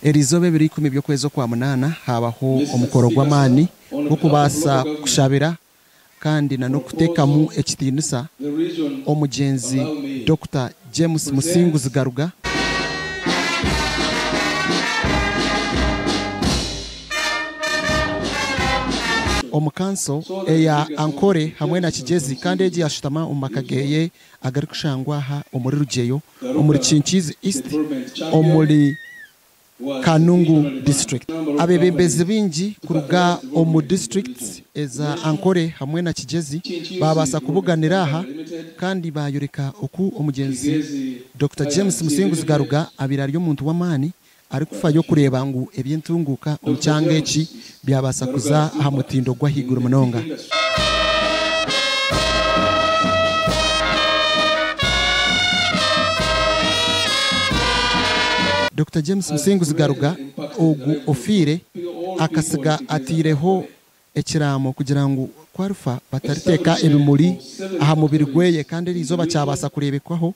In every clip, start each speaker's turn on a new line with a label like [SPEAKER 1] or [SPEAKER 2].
[SPEAKER 1] Erizooba ebiro ikumi eby'okwezi okwa munaana haabaho omukoro gw'amaani gw'okubaasa kushabira kandi nan'okuteekamu ekitiinisa omugyenzi Dokita James Musinguzi Garuga. Omu kanso eya Ankole hamwe na Kigyezi kandi egi yashutama omu maka geeye agarikushangwa aha omuri Rugyeyo omuri Kinkiizi East omuri Kanungu District. Abebembezi baingi kuruga omu districts eza Ankole hamwe na Kigyezi baabaasa kubuganira aha kandi baayoreka oku omugyenzi Dokita James Musinguzi Garuga abaire ari omuntu w'amaani Arikufayo kureeba ngu eby'entunguuka omu kyanga eki byabaasa kuza aha mutindo gw'ahaiguru munonga. Dokita James Musinguzi Garuga, ogu ofiire, akatsiga ataireho ekiraamo kugira ngu ku arifa batariteeka ebimuri aha mubiri gweye kandi eri izooba kyabaasa kureebekwaho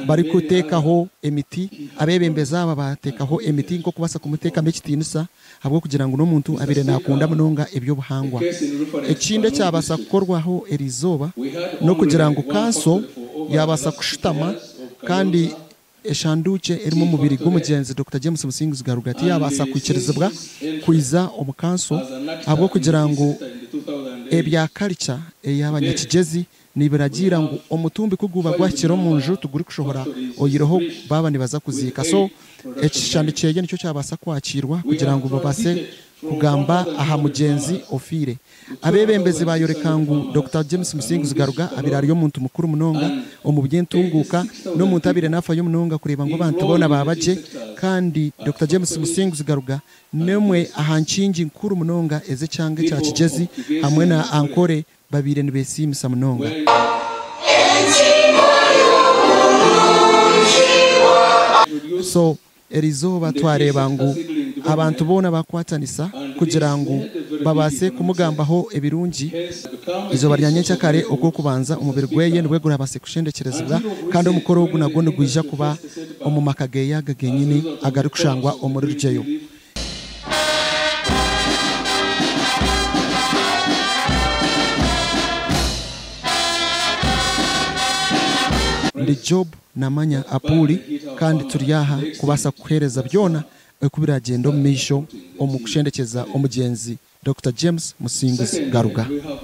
[SPEAKER 1] barikuteekaho emiti. Abeebembezi aba baateekaho emiti nk'okubaasa kumuteekamu ekitiinisa ahabw'okugira ngu n'omuntu abaire naakunda munonga eby'obuhangwa. Ekindi ekyabaasa kukorwaho eri izooba n'okugira ngu kanso yaabaasa kushutama kandi Eshanduukye erimu omubiri gw'omugyenzi Dokita James Musinguzi Garuga tiyaabaasa kwikirizibwa kwija omu kanso ahabw'okugira ngu ebya karica ey'abanyakigyezi nibiragiira ngu omutumbi ku guuba gwahikire omu nju tigurikushohora oyireho baaba nibaza kuziika so ekishushani kyeye nikyo kyabaasa kwakiirwa kugira ngu babaase kugamba aha mugyenzi ofiire. Abeebembezi baayoreka ngu Dokita James Musinguzi Garuga abaire ari omuntu mukuru munonga omu by'entunguuka n'omuntu abaire naafayo munonga kureeba ngu abantu boona baaba gye kandi Dokita James Musinguzi Garuga n'emwe aha nkingi nkuru munonga ez'ekyanga ekya Kigyezi hamwe na Ankore babaire nibeesiimisa munonga. Erizooba twareeba ngu abantu boona bakwatanisa kugira ngu babaase kumugambaho ebirungi. Eizooba rya nyenkya kare okw'okubanza omubiri gweye nibwe gurabaase kushendekyerezibwa kandi omukoro ogu nagwo nigwija kuba omu maka geye aga genyini agarikushangwa omuri Rugyeyo. Ndi Jobu Namanya apu ori, kandi turi aha kubaasa kukuheereza byona oku biraagyenda omumaisho omu kushendekyeza omugyenzi Dokita James Musinguzi Garuga.